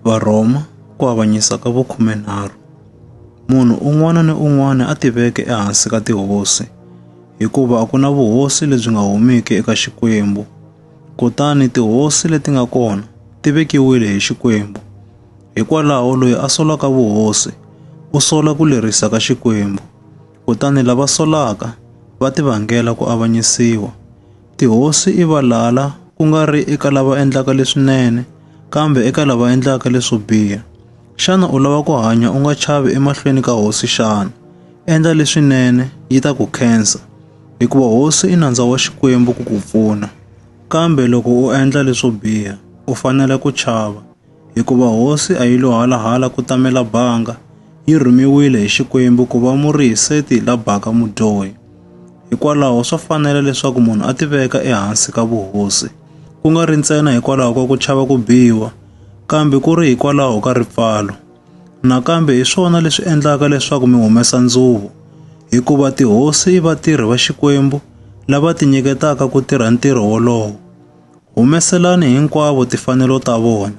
Varhoma ku avanyisa ka vukhumenharhu. Munhu un'wana ni un'wana a tiveke ehansi ka tihosi, hikuva a ku na vuhosi lebyi nga humiki eka Xikwembu. Kutani tihosi leti nga kona ti vekiwile hi Xikwembu. Hikwalaho loyi a solaka vuhosi u sola ku lerisa ka Xikwembu, kutani lava solaka va tivangela ku avanyisiwa. Tihosi i valala, ku nga ri eka lava endlaka leswinene, kambe eka lava endlaka leswo biha. Xana u lava ku hanya u nga chavi emahlweni ka hosi xana? Endla leswinene, yi ta ku khensa, hikuva hosi i nandza wa Xikwembu ku ku pfuna. Kambe loko u endla leswo biha, u fanele ku chava. hikuva hosi a yi lo halahala ku tamela banga, yi rhumiwile hi Xikwembu ku va murhihiseti la baka mudyohi. Hikwalaho swa fanela leswaku munhu a tiveka ehansi ka vuhosi, ku nga ri ntsena hikwalaho ka ku chava ku biwa, kambe ku ri hikwalaho ka ripfalo. Nakambe hi swona leswi endlaka leswaku mi humesa ndzuvo, hikuva tihosi i vatirhi va Xikwembu lava tinyiketaka ku tirha ntirho wolowo. Humeselani hinkwavo tifanelo ta vona.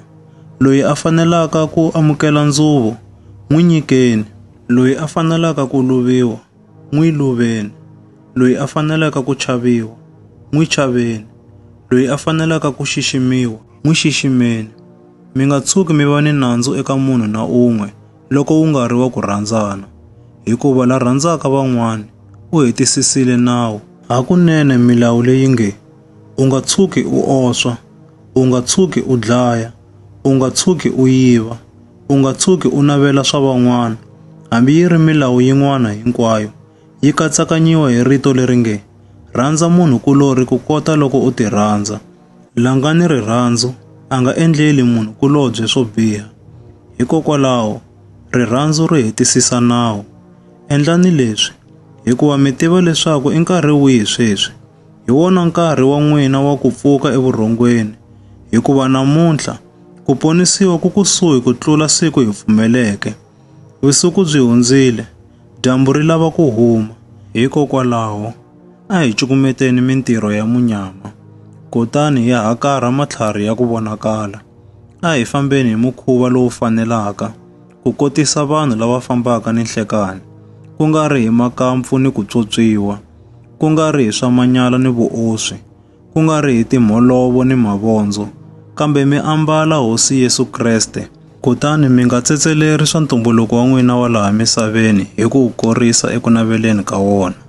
Loyi a fanelaka ku amukela ndzuvo, n'wi nyikeni. Loyi a fanelaka ku luviwa, n'wi luveni. Loyi a fanelaka ku chaviwa, n'wi chaveni. Loyi a fanelaka ku xiximiwa, n'wi xiximeni. Mi nga tshuki mi va ni nandzu eka munhu na un'we loko wu nga ri wa ku rhandzana, hikuva la rhandzaka van'wana u hetisisile nawu. Hakunene milawu leyi nge, U nga tshuki u oswa, u nga tshuki u dlaya, u nga tshuki u yiva, u nga tshuki u navela swa van'wana, hambi yi ri milawu yin'wana hinkwayo, yi katsakanyiwa hi rito leri nge, Rhandza munhu kulorhi ku kota loko u tirhandza. La nga ni rirhandzu a nga endleli munhu kulobye swo biha. Hikokwalaho, rirhandzu ri hetisisa nawu. Endlani leswi, hikuva mi tiva leswaku i nkarhi wihi sweswi. Hi wona nkarhi wa n'wina wa ku pfuka evurhongweni, hikuva namuntlha ku ponisiwa ku kusuhi ku tlula siku hi pfumeleke. Vusiku byi hundzile, dyambu ri lava ku huma. Hikokwalaho, a hi cukumeteni mintirho ya munyama, kutani hi hakarha matlhari ya ku vonakala. A hi fambeni hi mukhuva lowu fanelaka, ku kotisa vanhu lava fambaka ni nhlekani, ku nga ri hi makampfu ni ku tswotswiwa, ku nga ri hi swa manyala ni vuoswi, ku nga ri hi timholovo ni mavondzo, kambe mi ambala Hosi Yesu Kreste, kutani mi nga tsetseleri swa ntumbuluko wa n'wina wa laha misaveni hi ku wu korisa eku naveleni ka wona.